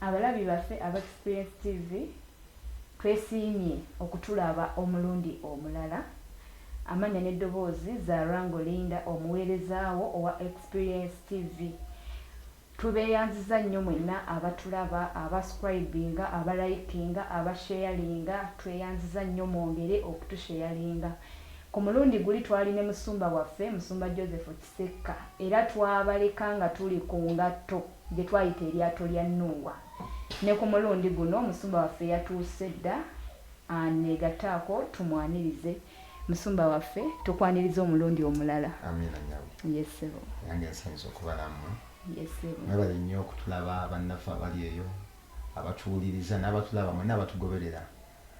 abalabi baffe aba experience tv twesiimye okutulaba omulundi omulala amanya n'eddoboozi za rango linda omuweerezaawo owa experience tv Tubeyanziza nnyo mwenna abatulaba, aba scribinga, aba likinga, aba sharinga tweyanziza nnyo mwongere okutusheyalinga. Ku mulundi guli twali ne musumba waffe musumba Joseph Kisekka era twabaleka nga tuli ku ngatto gye twayita eryato lya Nuuwa. Ne ku mulundi guno musumba waffe yatuuse dda anegataako tumwanirize. musumba waffe tukwaniriza omulundi omulala amiina nyabo yesebo nange nsinza okubalamu yesebo mwebale nnyo okutulaba bannaffe abali eyo abatuwuliriza n'abatulaba mwena abatugoberera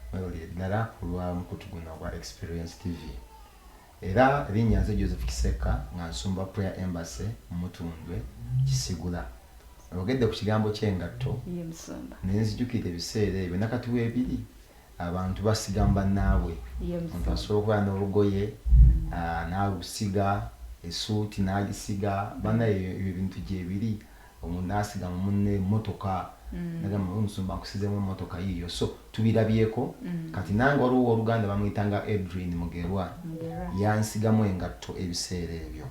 mwebale ddala kulwa mukutu guno ogwa experience tv era erinnya nze joseph kisekka nga nsumba prayer embassy mutundwe kisigula ogedde ku kigambo ky'engatto nenzijukira ebiseera ebyo nakati weebiri Abantu basiga mu bannaabwe. Omuntu asobola okubeera n'olugoye n'alusiga, essuuti n'agisiga. Bannaaye ebyo ebintu gyebiri. Omuntu n'asiga mu munne emmotoka n'agamba naye omusumba nkusizeemu emmotoka yiiyo. So tubirabyeko. Kati nange waliwo owooluganda bamuyitanga Edrine Mugerwa yansigamu engatto ebiseera ebyo.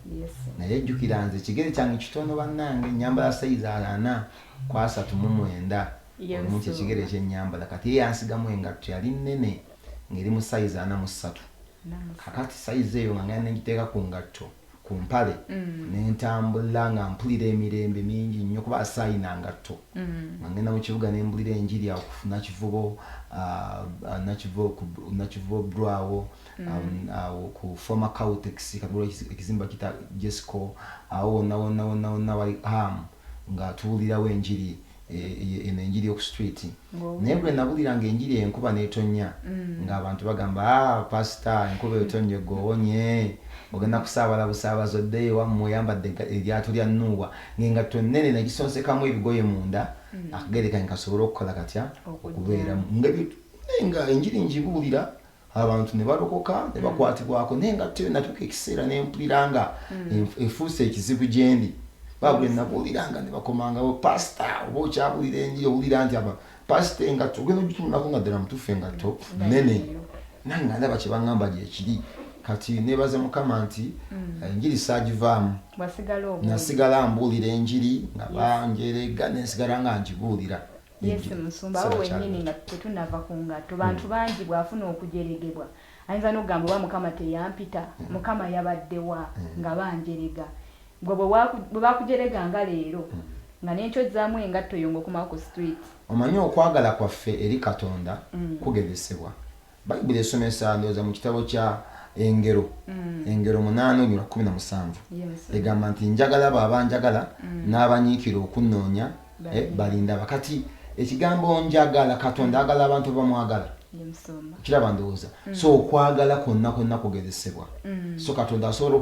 Naye jjukira nze ekigere kyange kitono bannange, nnyambala sayizi ana ku asatu mu mwenda. obulungi ekigere kyenyambala kati ye yansigamu engatto yali nnene ng'eri mu sayizi ana mu ssatu kakati sayizi eyo nga ngenda nengiteeka ku ngatto ku mpale mm. nentambula nga mpulira emirembe mingi nnyo kuba asaayina ngatto mm. nga ngenda mu kibuga nembulira enjiri awo kunakivubo ah, ah, nakivubo brwawo mm. um, awo ku foma cautex katula ekizimba kita jesco awo wonna wonna wonna wonna wali hamu nga tuwulirawo enjiri Eh, eno enjiri oku street naye bwe nabuliranga enjiri enkuba netonya mm. ng'abantu bagamba ah, pasita enkuba etonye gowonye ogenda kusaabala busaabazi oddeyo ewammwe oyambadde eryato lya nuuwa ng'engatto nnene nagisonsekamu ebigoye munda mm. akagerekanye kasobole okukola katya okubeeramu nga enjiri njibuulira abantu ne balokoka ne mm. bakwatibwako naye nga tte natuuka ekiseera ne mpulira nga mm. efuuse ekizibu gyendi babwe nabuulira nga ne bakomangawo pasita oba okyabulira enjiri owulira nti aba pasita engatto ogenda ogitunulako nga ddala mutuufu engatto mm. nene nange nga ndaba kyebaŋŋamba gyekiri kati nebaza mukama nti mm. enjiri sagivaamu nasigala mbuulira enjiri nga banjeregga nensigala nga ngibuulira yesi musumba awo wenyini nga tetunava ku ngatto bantu hmm. bangi bwafuna okujeregebwa ayinza nokugamba oba mukama teyampita hmm. mukama yabaddewa hmm. nga banjerega gwe bwebakujerega nga leero nga nenkyozzamu engatto yo ngaokomawo ku street omanyi okwagala kwaffe eri katonda kugezesebwa Bayibuli esomesa ndowooza mu kitabo kya Engero mm. Engero munaana olunyuma lwa kkumi na musanvu egamba nti njagala abo abanjagala mm. n'abanyiikira okunnoonya eh, balindaba. Kati ekigambo njagala Katonda mm. agala abantu bamwagala kiraba ndowooza so okwagala kwonna kwonna kugezesebwa so Katonda asobola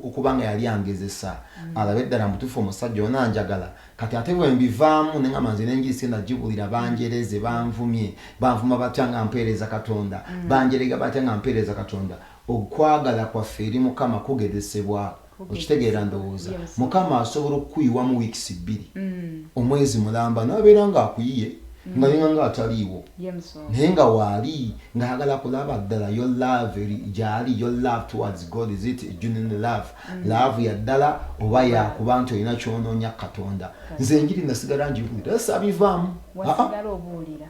okuba nga yali angezesa alabe ddala mutuufu omusajja onaanjagala Kati ate bwe mbivaamu ne ngamba nze n'enjiri sigenda gibuulira, banjereze, banvumye, banvuma batya nga mpeereza Katonda, mm. banjerega batya nga mpeereza Katonda. Okwagala kwaffe eri Mukama kugezesebwa. Okitegeera ndowooza. Mukama asobola okukuyiwamu wiikisi bbiri, mm. omwezi mulamba, n'abeera ng'akuyiye. Mm. nga yona nga ataliiwo naye nga waali ngaagala kulaba ddala yo love gyali yo love towards god is it genuine love laavu ya ddala oba yakuba nti olina kyonoonya katonda nze enjiri nasigala ngibuulira era sabivaamu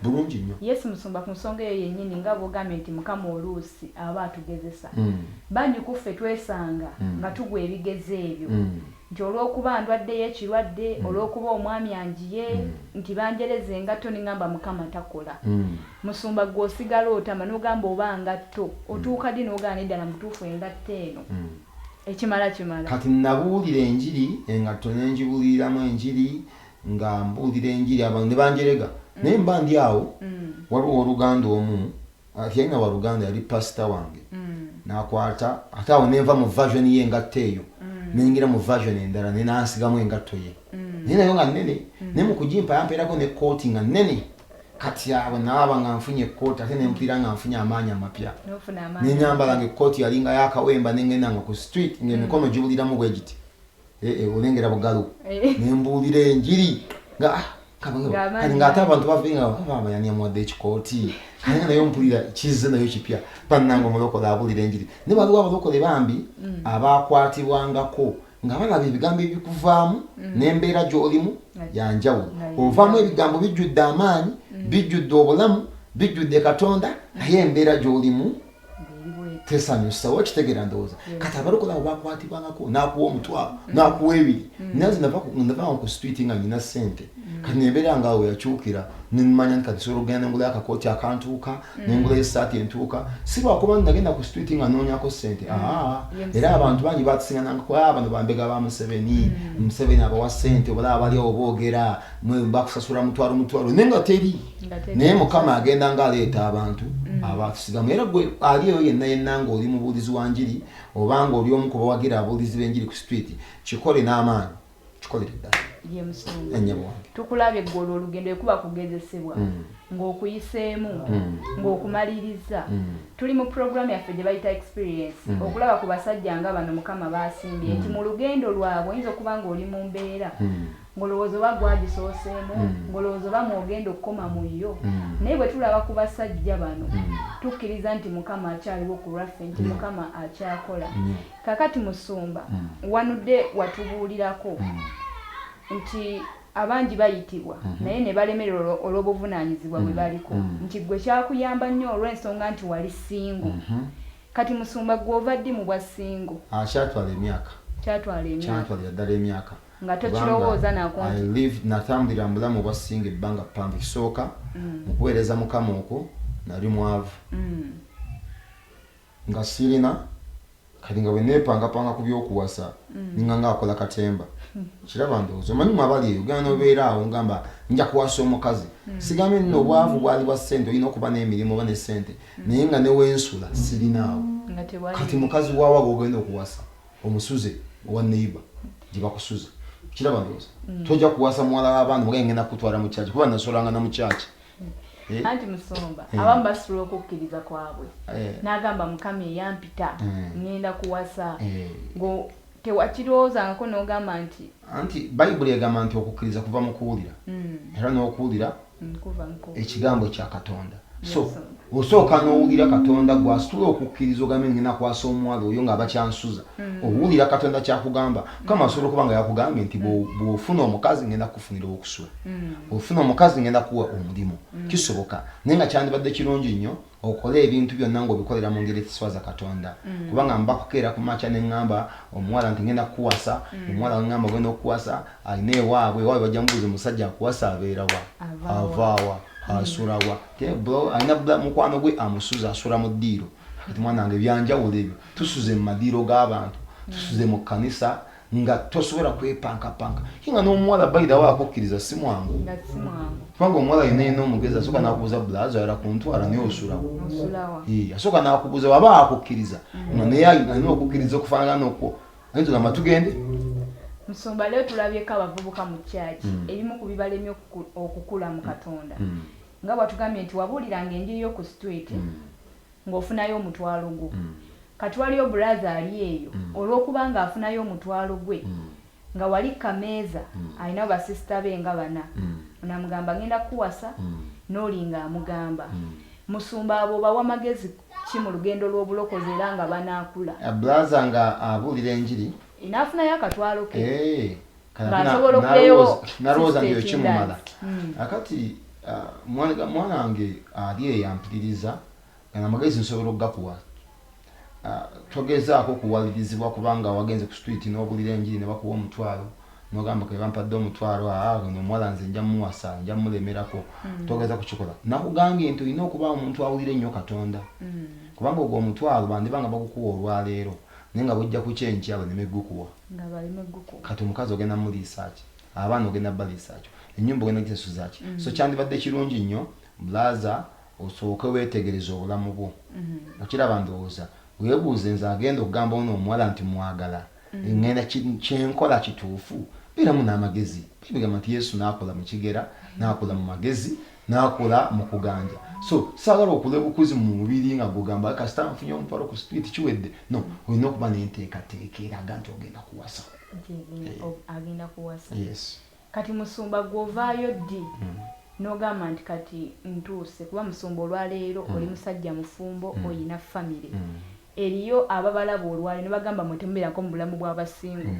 bulungi nnyo yesu musumba ku nsonga eyo yennyini nga bwogambye nti mukama oluusi aba atugezesa mm. bangi ku ffe twesanga mm. nga tugwa ebigezo ebyo mm. nti olw'okuba ndwaddeyo ekirwadde olw'okuba omwami anjiye nti banjereza engatto nengamba mukama takola Musumba gwe osigala otama nogamba oba ngatto otuuka ddi nogaana eddala mubutuufu engatto eno ekimala kimala. Kati nabuulira enjiri engatto nenjibuliiramu enjiri nga mbuulira enjiri abantu nebanjerega naye mba ndi awo waliwo owoluganda omu teyalina waluganda yali pastor wange nakwata ate awo nenva mu version ye engatto eyo nengira mu version endala naye nansigamu engatto ye naye nayo nga nene naye mukujimpa yamperako ne kooti nga nene. kati awo naaba nga nfunye ekkooti ate nempiira nga nfunye amaanyi amapya nenyambala nga ekkooti yalinga yakawemba nengenda nga ku street nga emikono mm. gibuliramu bwe giti eh, eh, olengera bugalu eh. nembuulira enjiri nga ah, kati ngaate abantu bavinga baba yani amuwadde ekikooti naye naye ompulira kizze nayo kipya bannanga omulokola abulira enjiri ne waliwo abalokole bambi mm. abakwatibwangako nga balaba ebigambo ebikuvaamu mm. n'embeera gy'olimu yanjawulo ovaamu ebigambo bijjudde amaanyi mm. bijjudde obulamu bijjudde katonda mm. naye embeera gy'olimu tesanyusa wakitegera ndowooza kati abalokola bakwatibwangako n'akuwa omutwalo n'akuwa ebiri naze ndavanga ku street nga nyina ssente kati nembeera nga awo yakyukira nemanya nti kati sobola okugenda nengula akakooti akantuuka mm. nengula esaati entuuka si lwakuba nti nagenda ku street nga noonyako sente mm. aa era abantu bangi batusingananga ku aa ah, bano bambega ba museveni mm. museveni abawa sente obalaba bali awo boogera bakusasula mutwalo mutwalo naye nga teri naye mukama agenda nga aleeta abantu abatusigamu era gwe ali eyo yenna yenna nga oli mubuulizi wa njiri obanga oli omu kubawagira abuulizi b'enjiri ku street kikole n'amaanyi kikolere ddala ye musumba ennyabo wange tukulabye gwe olwo olugendo ekuba kugezesebwa mm. ng'okuyiseemu mm. ng'okumaliriza mm. tuli mu puroguramu yaffe gye bayita experience okulaba ku basajja nga bano mukama baasimbye nti mu lugendo lwabwe oyinza okuba ng'oli mu mbeera ng'olowooza oba gwagisooseemu ng'olowooza oba mwogenda okukoma mu yo naye bwe tulaba ku basajja bano tukkiriza nti mukama akyaliwo ku lwaffe nti mukama akyakola Kakati musumba mm. wanudde watubuulirako mm. nti abangi bayitibwa mm -hmm. naye nebalemererwa olw'obuvunanyizibwa bwe mm. baliko mm. nti gwe kyakuyamba nnyo olw'ensonga nti wali singo mm -hmm. kati musumba gwe ova ddi mu bwa singo ah, kyatwala emyaka kyatwalira ddala emyaka nga tokirowooza natambulira mubulamu obwa singo ebbanga ppanvu kisooka mm. mukuweereza mukama okwo nali mwavu mm. Nga ssirina kati nga bwe nneepangapanga ku by'okuwasa nninga ng'akola katemba. Okiraba? Ndowooza omanyi mmwe abali eyo, ogenda n'obeera awo ngamba, Nja kuwasa omukazi. Ssigambye nno obwavu bwali bwa ssente, olina okuba n'emirimu oba ne ssente, naye nga ne we nsula ssirinaawo. Kati mukazi wa wa gw'ogenda okuwasa? Omusuze owa neyiba gye bakusuza? Okiraba? Ndowooza tojja kuwasa muwala wa bantu nga ye ŋŋenda kukutwala mu kyaki, kuba nnasulanga na mu kyaki. Eh? anti musumba eh. abamu basula okukkiriza kwabwe eh. n'agamba mukama eyampita ŋŋenda kuwasa tewakirowoozangako n'ogamba nti anti bayibuli egamba nti okukkiriza kuva mu kuwulira mm. era n'okuwulira mm, ekigambo kya katonda so osooka n'owulira katonda gwasitula okukkiriza ogambe ngenda kwasa omuwala oyo nga bakyansuza mm. owulira katonda kyakugamba kama asobola okuba nga yakugambye nti bwofuna omukazi ngenda kukufunira okusula mm. ofuna omukazi ngenda kuwa omulimu mm. kisoboka naye nga kyandibadde kirungi nnyo okole ebintu byonna ngaobikolera mu ngeri ekiswaza katonda kubanga mbakukeera ku maca neŋŋamba omuwala nti ngenda kukuwasa omuwala weŋŋamba ogenda okukuwasa alina ewaabwe ewaabwe bajja mubuuza omusajja akuwasa abeerawa avaawa asulawa Yeah, bro alina bla mukwano gwe amusuza asula mu ddiiro kati mwana wange byanjawulo ebyo tusuze mu madiiro g'abantu tusuze mu kkanisa nga tosobola kwepankapanka ye nga n'omuwala bayidawo akukkiriza si mwangu kubanga omuwala yena yena omugezi asooka nakubuuza bulazo ayala ku ntwala naye osulawo asooka nakubuuza waba akukkiriza mm. nga naye alina okukkiriza okufaanana nokwo Naye tugamba tugende. Musumba leo tulabyeko abavubuka mu church mm. ebimu ku bibalemye okukula mu Katonda mm. nga bwatugambye nti wabuuliranga enjiri yo ku street mm. ng'ofunayo omutwalo gwo mm. kati waliyo bulaza ali eyo mm. olw'okuba ng'afunayo omutwalo gwe mm. nga wali kameeza mm. alinawo basisita be nga bana mm. namugamba ngenda kuwasa mm. n'olinga amugamba mm. musumba abo bawa magezi ki mu lugendo lw'obulokozi era nga banaakula. Bulaza nga abuulira enjiri. N'afunayo akatwalo ke. Eeh kati nga nsobola okubeewo nalowooza nti ekimumala hmm. akati ah, mwana wange ali eyampiririza gana amagezi nsobola okugakuwa ah, togezaako kuwalirizibwa kubanga wagenze ku street n'obulira enjiri ne bakuwa omutwalo nogamba kebampadde omutwalo aa ono omuwala nze nja muwasa nja mulemerako mm. togeza kukikola nakugambye nti olina okuba omuntu awulira ennyo katonda mm. kubanga ogwo omutwalo bandiba nga bagukuwa olwaleero naye nga bujja kukya enkya baleme gukuwa kati omukazi ogenda muliisaaki abaana ogenda baliisaakyo enyumba ogenda gisasuzaki mm. so kyandibadde kirungi nnyo blaza osooke wetegereza obulamu bwo mm-hmm. okiraba ndowooza webuuze nze agenda okugamba ono omuwala nti mwagala mm. mm. ngenda kyenkola kituufu beeramu n'amagezi bigamba nti yesu n'akola mu kigera n'akola mu magezi n'akola mu kuganja so saagala okula obukuzi mu mubiri nga gugamba kasita nfunye omutwalo ku sipiti kiwedde no olina okuba n'enteekateeka eraga nti ogenda kuwasa agenda kuwasa yes kati musumba gwovaayo ddi hmm. nogamba nti kati ntuuse kuba musumba olwaleero hmm. oli musajja mufumbo hmm. olina famire Eriyo ababalaba olwalero nebagamba mwe temuberako mubulamu bwa ba single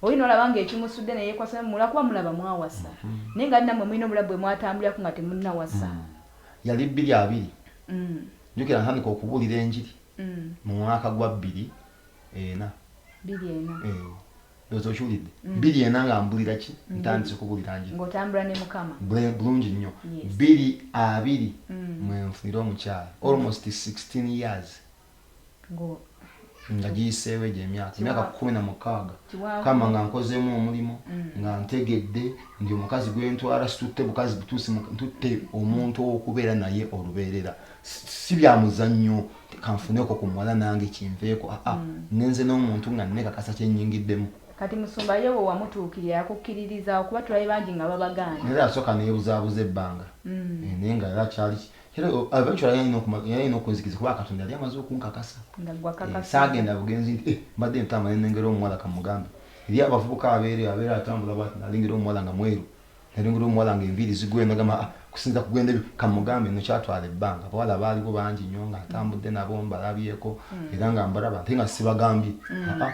oli nolaba nga ekimusudde neyekwasa mwe lwakuba mulaba mwawasa naye nga namwe mulina obulabu bwemwatambulirako nga temunawasa. Yali bbiri abiri njukira ntandika okubulira enjiri mu mwaka gwa bbiri ena Bbiri ena. eeh ndowooza okiwulidde bbiri ena nga mbulira ki ntandise kubulira njiri Ngotambula ne mukama. bulungi nnyo Yes. bbiri abiri mwenfunira omukyala almost sixteen years. nga giyiseewo egyo emyaka emyaka kumi na mukaaga kama nga nkozeemu omulimu mm. nga ntegedde ndi omukazi gwentwala situtte bukazi butuusi ntutte omuntu owokubeera naye olubeerera si bya muzannyo kanfuneko ku muwala nange kinveeko aa ah, ah, mm. nenze n'omuntu nga nekakasa kyenyingiddemu kati musumba yewe wamutuukirira yakukkiririza okuba tulabe bangi nga babagaana naye asooka neyebuzabuza ebbanga mm. eh, naye nga era kyali era eventually yali alina okumanya yali alina okunzikiza kuba katonda yali amaze okunkakasa eh, saagenda bugenzi nti eh, mbadde ntambula nenengera omuwala kamugambe eri abavubuka abeere abeera atambula bwati nalengera omuwala nga mweru nalengera omuwala nga enviiri zigwe nagamba ah, kusinza kugenda ebyo kamugambe no kyatwala ebbanga abawala baaliwo bangi nnyo nga atambudde nabo mbalabyeko hmm. era nga mbalaba ate nga sibagambye hmm. ah, ah,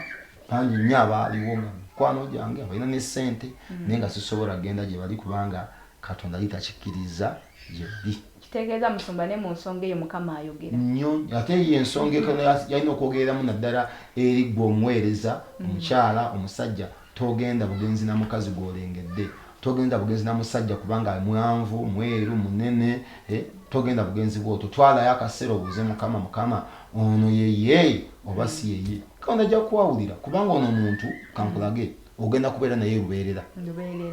bangi nnyo abaaliwo nga mikwano gyange abalina ne ssente hmm. naye nga sisobola kugenda gye bali kubanga katonda yitakikkiriza yebbi kitegeeza musumba ne mu nsonga eyo mukama ayogera nyo ate eyo ensonga etono yalina okwogereramu naddala eri gwe omuweereza mm. omukyala omusajja togenda bugenzi na mukazi gwolengedde togenda bugenzi na musajja kubanga mwanvu mweru munene eh, togenda bugenzi bwoto twalayo akaseera obuuze mukama mukama ono yeye oba si yeye kaona ajja kukwawulira kubanga ono omuntu kankulage ogenda kubeera naye lubeerera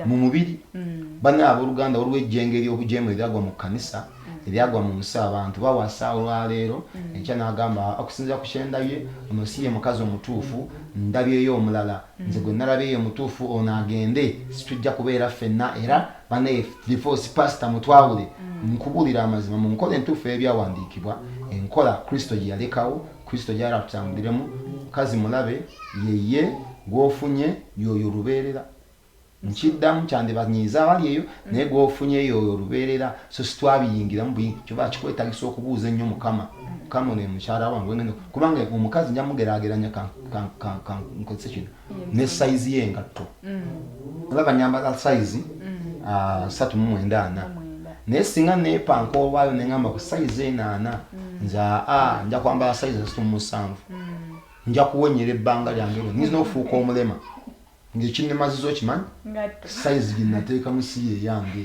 mu mubiri mm. bana abooluganda waliwo ejjengo ery'obujeemu eryagwa mu kkanisa mm. eryagwa mu nsi abantu bawasa olwaleero mm. enkya n'agamba okusinzira ku kyendabye ono si ye mukazi omutuufu ndabyeyo omulala nze gwe nalabyeyo omutuufu ono agende situjja kubeera ffenna era banaye divorce pasita mutwawule nkubulira amazima mu nkola entuufu ebyawandiikibwa enkola kristo gye yalekawo kristo gyali atutambuliremu mukazi mulabe yeye gwofunye yoyo olubeerera nkiddamu kyandibanyiiza abali eyo naye gwofunye yoyo olubeerera so sitwabiyingiramu buyi kyoba kikwetagisa okubuuza ennyo mukama mukama ono emukyala wange ngeno kubanga omukazi njamugerageranya kankozese kino ne sayizi y'engatto olaba nyambala sayizi ah, satu mu mwenda ana naye singa neepanka olwayo ne ŋamba ku sayizi eno ana nze aa nja kwambala sayizi esatu mu musanvu nja kuwenyera ebbanga lyange lyo nyinza n'okufuuka omulema ng'ekinemaziza okimanyi sayizi gye nateekamu si yeeyange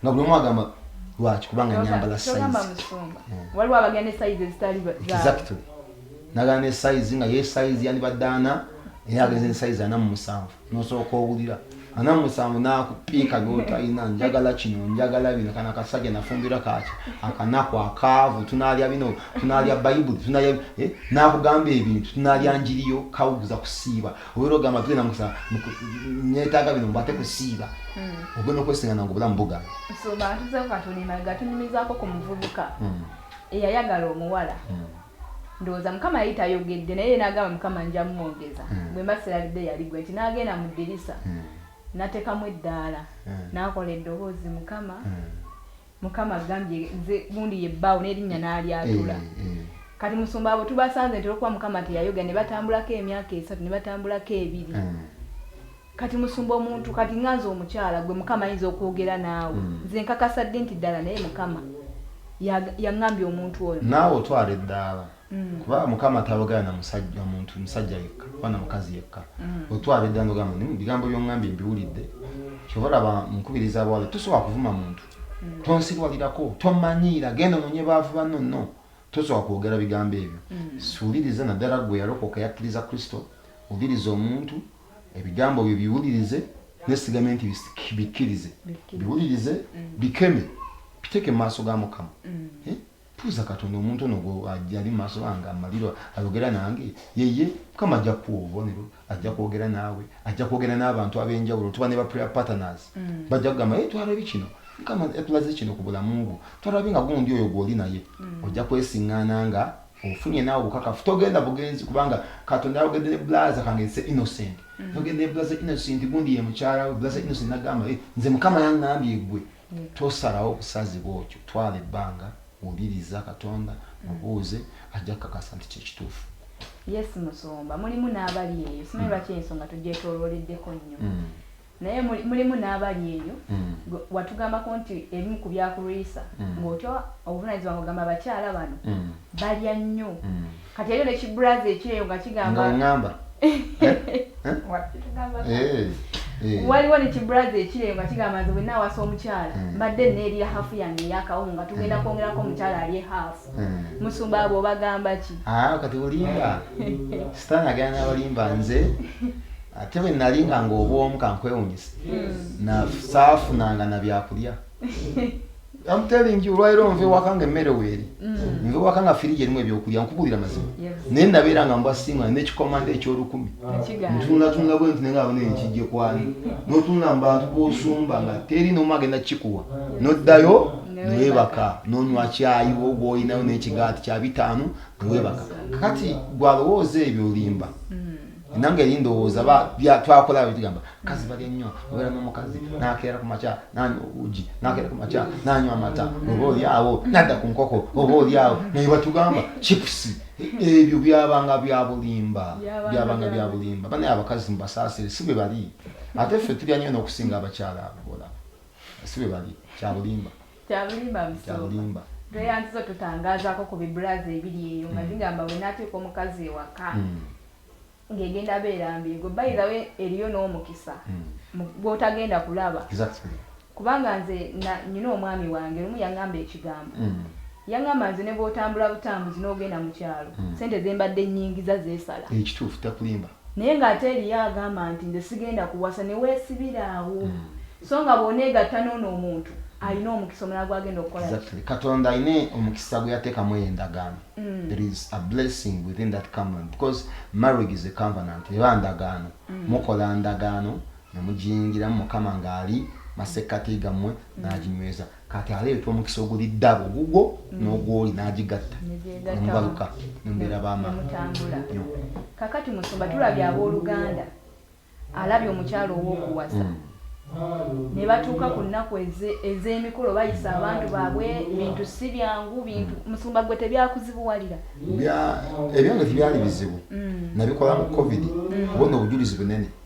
nga buli omu agamba lwaki kubanga nyambala waliwo abagenda esayizi ezitali exactly nagala ne sayizi nga yesayizi yandibadde ana era agenze esayizi ana mu musanvu nosooka owulira ana mu musanvu nakupiika byotalina njagala kino njagala bino kana kasajja nafumbira kaki akanaku akaavu tunalya bino tunalya bayibuli eh, nakugamba ebintu tunalya njiriyo kawuguza kusiiba obeera ogamba tugenda mukusa netaaga bino mbu ate kusiiba hmm. ogenda okwesingana nga obulamu buga sobantuzeokatulimaga tunyumizaako ku muvubuka hmm. eyayagala omuwala hmm. ndowooza mukama yali tayogedde naye nagamba mukama nja mumwogeza bwemba sirabidde yali gwe nti nagenda mu ddirisa natekamu eddaala nakola eddoboozi mukama mukama agambye nze gundi ye bbaawo n'erinnya n'alyatula eh, eh. kati musumba abo tubasanze nti olwokuba mukama teyayogera ne batambulako emyaka esatu ne batambulako ebiri eh. kati musumba omuntu kati nga nze omukyala gwe mukama ayinza okwogera naawe hmm. nze nkakasa ddi nti ddala naye mukama yaŋambye omuntu oyo naawe otwala eddaala Mm. kuba mukama atayogera na musajja muntu musajja yekka oba na mukazi yekka mm. otwala edda nogamba ni bigambo byongambye mbiwulidde kyova olaba nkubiriza abawala tosobola kuvuma muntu mm. tonsirwalirako tomanyiira genda ononye baavu banno no tosobola kwogera bigambo ebyo siwuliriza naddala gwe yalokoka yakkiriza kristo wuliriza omuntu ebigambo byo biwulirize nesigame nti bikkirize biwulirize bikeme biteeke mu maaso ga mukama eh? Tuuza katonda omuntu ono gwo ajali mumaso gange amaliro ayogera nange yeye mukama ajja kuwa obubonero ajja kwogera naawe ajja kwogera n'abantu abenjawulo tuba ne ba prayer partners mm. bajja kugamba ye twalabye kino mukama yatulaze kino ku bulamu bwo twalabye nga gundi oyo gwoli naye mm. ojja kwesiŋŋaana nga ofunye naawe obukakafu togenda bugenzi kubanga katonda yayogedde ne bulaza kange se innocent mm. yogedde ne bulaza innocent gundi ye mukyala we bulaza innocent nagamba eh, nze mukama yaŋŋambye gwe Tosalawo kusazibwa okyo. Twala ebbanga, wuliriza Katonda, mubuuze, ajja kukakasa nti kye kituufu. Yes Musumba, mulimu n'abali eyo, simanyi mm. lwaki ensonga tugyetoolooleddeko nnyo. Mm. Naye mulimu n'abali eyo, mm. watugambako nti ebimu ku byakulwisa ng'otya obuvunaanyizibwa ng'ogamba abakyala bano balya nnyo. kati yaliyo nekiburazi ekyeyo nga kigambangamba waliwo nekiburazi ekyeyo nga kigamba nze bwenna awasa omukyala hmm. mbadde neerya hafu yange eyakawomu nga tugenda hmm. kwongerako omukyala alye hafu hmm. musumba abo obagamba ki ah, kati olimba sitaani agenda nabalimba nze ate bwe nali nga ngaobwomu kankwewunyisa nasaafunanga nabyakulya I'm telling you olwaliro nva ewaka nga emmere weeri mm. nva ewaka nga firiji erimu ebyokulya nkubuulira mazima naye nabeera nga mbwa singa nekikomanda ekyolukumi ntunatunula bwe nti nenga abona enkijje kwani notunula mubantu bosumba nga teri nomu agenda kikuwa noddayo newebaka nonywa kyayi wogwoyinayo nekigaati kyabitaano newebaka kati gwalowooza ebyo olimba mm. nange eri ndowooza twakola tugamba kazi balya nnyo obeera n'omukazi nakeera ku makya nanywa obuugi nakeera ku makya nanywa amata oba oli awo nadda ku nkoko oba oli awo naye batugamba chipusi ebyo byabanga byabulimba byabanga byabulimba banaye abakazi mubasaasire si bwe bali ate ffe tulya nnyo n'okusinga abakyala abagola si bwe bali kyabulimba kyabulimba kyabulimba tweyanziza otutangazaako ku bibulazi ebiri eyo nga zigamba bwe nateeka omukazi ewaka ng'egenda beera mbi gwe bayirawe eriyo n'omukisa gw'otagenda kulaba kubanga nze nina omwami wange lumu yaŋamba ekigambo yaŋamba nze ne bw'otambula butambuzi n'ogenda mu kyalo sente ze mbadde nnyingiza zeesala ekituufu takulimba Naye nga ate eliyo agamba nti nze sigenda kuwasa newesibira awo so nga bwonegatta nono omuntu alina omukisa omulala gwagenda okukola exactly katonda alina omukisa gweyatekamu eyo endagaano mm. there is a blessing within that covenant because marriage is a covenant eba ndagaano mm. mukola ndagaano nemugiyingiramu mukama ngaali masekkati gammwe mm. naginyweza kati aleeta omukisa oguli ddabo ogugwo mm. n'ogwoli n'agigatta nemubaluka nembeera bamaamutambula kakati musumba tulabye abooluganda alabye omukyalo ow'okuwasa mm. ne batuuka ku nnaku ez'emikolo bayisa abantu baabwe bintu si byangu bintu mm. musumba gwe tebyakuzibuwalira ebyange tebyali bizibu nabikola mu covid kubona obujulizi bunene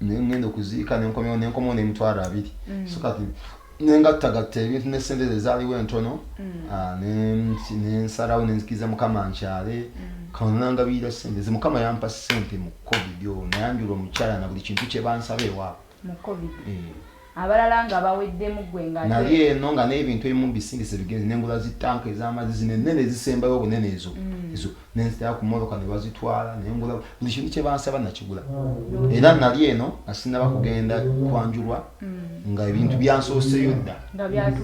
nengenda okuziika nenkomewo nenkomewo nemitwalo abiri mm. so kati nengattagatta ebintu ne sente ze zaaliwo entono mm. ah, nensalawo nenzikiriza mukama nkyale mm. kanangabiira sente ze mukama yampa sente mu covid oyo nayanjula omukyala na buli kintu kyebansaba ewaabo eh. abalala nga baweddemu ggwe nga nali eno nga n'ebintu ebimu bisingise bigenze nengula zi tanka ez'amazzi zino ennene ezisembayo obunene ezo mm. ezo nenzitaya ku mmotoka ne bazitwala nengula buli kintu kye bansaba nakigula mm. era nali eno nga sinaba kugenda kwanjulwa mm. nga ebintu byansooseyo dda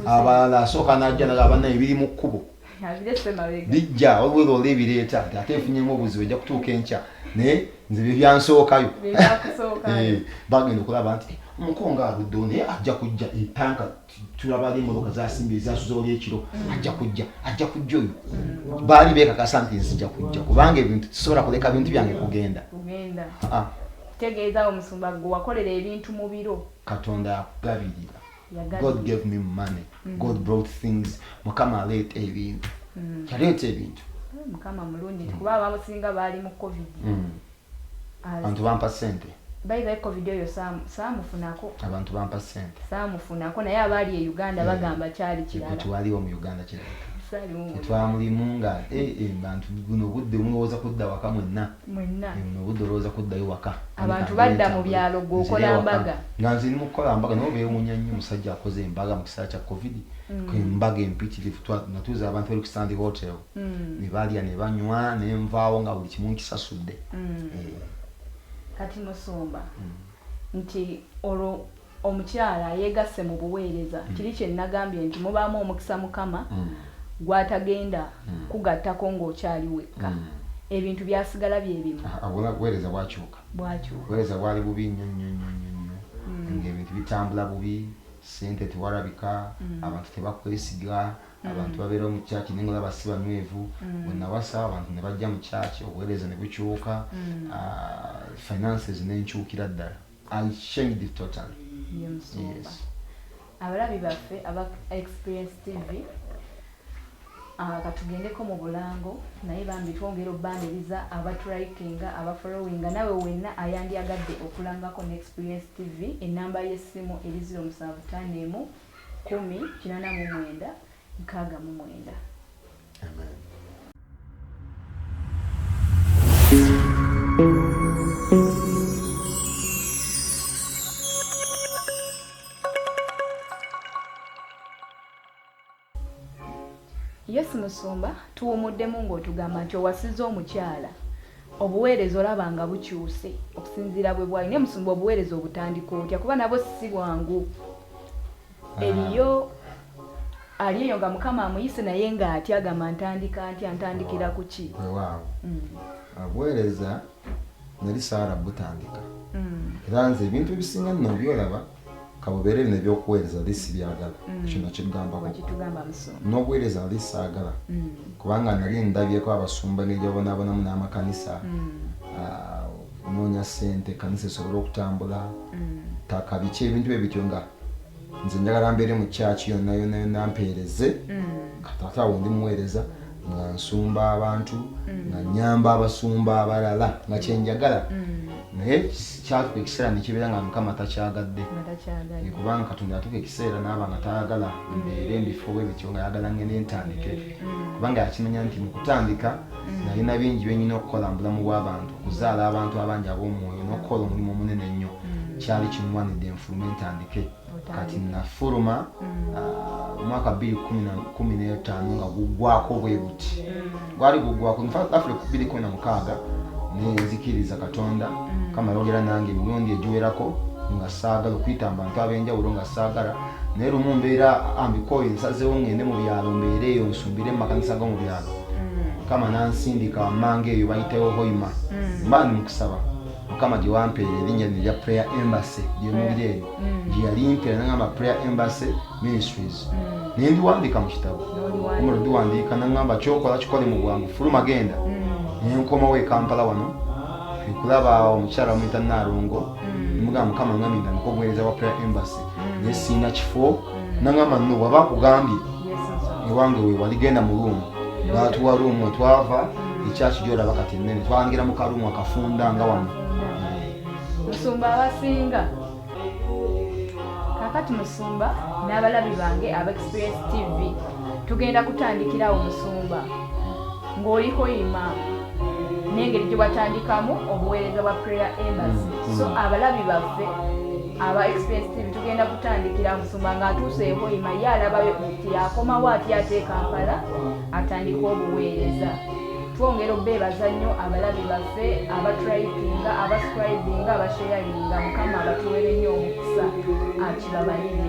abalala asooka n'ajja naga abanna ebiri mu kkubo bijja waliwo ola ebireeta nti ate efunyemu obuzibu ejja kutuuka enkya naye nze bye byansookayo eh, bagenda okulaba nti eh, omukonga aludde naye ajja kujja etanka eh, tulabali emotoka zasimba ezasuza oli ekiro mm. ajja kujja ajja kujja oyo mm. baali bekakasa nti nzija kujja kubanga ebintu tusobola kuleka bintu byange kugenda ah, ah. tegeeza omusumba gwe wakolera ebintu mu biro katonda akugabirira god gave me money mm. god brought things mukama aleeta ebintu mm. yaleeta ebintu eh, mukama mulungi mm. kuba abamusinga baali mu covid abantu bampa sente baibae covid oyo saamufunako abantu bampa sente saamufunako naye abaali e uganda bagamba kyali kiralawaliwo mu uganda kirala twamulimu nga eh, eh, bantu guno budde mulowooza kudda waka mwenna mwenna Eh, buno obudde olowooza kuddayo waka Abantu Anita, badda mu nzire byalo, gwe okola ewaka. mbaga. nga nze ndi mukukola mbaga nabo bewunya nnyo omusajja akoze embaga mu kiseera kya covid Mm. embaga empitirivu Twa- natuuza abantu bali ku sand hotel Mm. ne balya ne banywa ne nvaawo nga buli kimu nkisasudde Mm. Eh, kati musumba nti olwo Omukyala ayegasse mu buweereza kiri kye nnagambye nti mubaamu omukisa Mukama gw'atagenda kugattako ng'okyali wekka. Ebintu byasigala bye bimu. Ha, wabula buweereza bwakyuka. Bwakyuka. Buweereza bwali bubi nnyo, nnyo, nnyo, nnyo, nnyo, ng'ebintu bitambula bubi, ssente tewalabika, abantu tebakwesiga, abantu babeera mu church naye ng'olaba si banywevu. Bwe nnawasa, abantu ne bajja mu church, obuweereza ne bukyuka, ha, finances n'enkyukira ddala. I shamed it totally. Ye musumba. Yes. Abalabi baffe aba Experience TV ah, katugendeko mu bulango naye bambi twongera obbandiriza abaturikinga abafollowinga nawe wenna ayandyagadde okulangako ne experience tv enamba y'essimu eri 0751 89 mwenda nkaaga mu mwenda Yesu Musumba tuwumuddemu ng'otugamba nti owasiza omukyala obuweereza olaba nga bukyuse okusinziira bwe bwali naye musumba obuweereza obutandika otya kuba nabwo si bwangu eriyo ali eyo nga mukama amuyise naye nga ati agamba ntandika ntya ntandikira ku ki wewaawo mm. abuweereza nali saala butandika mm. era nze ebintu ebisinga nno byolaba kabubeere bino ebyokuweereza ali sibyagala mm. ekyo nakigambako n'obuweereza ali saagala kubanga nali ndabyeko abasumba nebyabonabonamu n'amakanisa ah, noonya sente kanisa esobole okutambula taka biki ebintu bye bityo nga mm. nze njagala mbeere mu kyaki yonna yonna yonna mpeereze mm. kataata awo ndi muweereza nga nsumba abantu mm. nga nyamba abasumba abalala nga kyenjagala mm. naye kyatuka ekiseera nekibeera nga mukama takyagadde kubanga katonda yatuka ekiseera naaba nga tayagala mbeere mbifuuba ebityo nga yagala ngene ntandike kubanga yakimanya nti mukutandika mm. nalina bingi byenyina okukola mu bulamu bw'abantu okuzaala abantu abangi ab'omwoyo n'okukola omulimu omunene ennyo mm. kyali kinwanidde enfulume ntandike kati nafuluma mm. ah, omwaka bbiri kumi n'etaano nga guggwako bwe guti gwali guggwako nfafule ku bbiri kumi na mukaaga nenzikiriza katonda kama yogera nange emirundi egiwerako nga saagala okuyita mu bantu ab'enjawulo nga saagala naye lumu mbeera ambikoyo nsazewo ngende mu byalo mbeera eyo nsumbire mu makanisa go mu byalo mukama nansindika wammanga eyo bayitawo hoima mm. mba ndi mukusaba mukama gyewampeera erinnya lino erya prayer embassy gyemulira eno mm. gyeyalimpera nagamba prayer embassy ministries mm. naye ndiwandiika mu kitabo omula ndiwandiika nagamba kyokola kikole mu bwangu fuluma genda naye nkomawo ekampala wano ekulaba omukyala muyita naalongo nimugamba mukama ngambye nga nikobuweereza wa prayer embassy mm. naye siina kifo mm. nangamba no waba akugambye ewange wewali genda mu ruumu natuwa ruumu etwava ekyaki gyolaba kati enene twangira mu karuumu akafunda nga wano musumba abasinga kakati musumba n'abalabi bange aba experience tv tugenda kutandikirawo musumba ng'oliko ima n'engeri gye watandikamu obuweereza bwa prayer embassy mm, so mm. abalabi baffe aba express tv tugenda kutandikira musumba ng'atuuse ehoima ye alabayo nti akomawo atya ate kampala atandika obuweereza twongera obeebaza nnyo abalabi baffe abatripinga abascribinga abasheyaringa mukama abatuwere nnyo omukisa akibabalire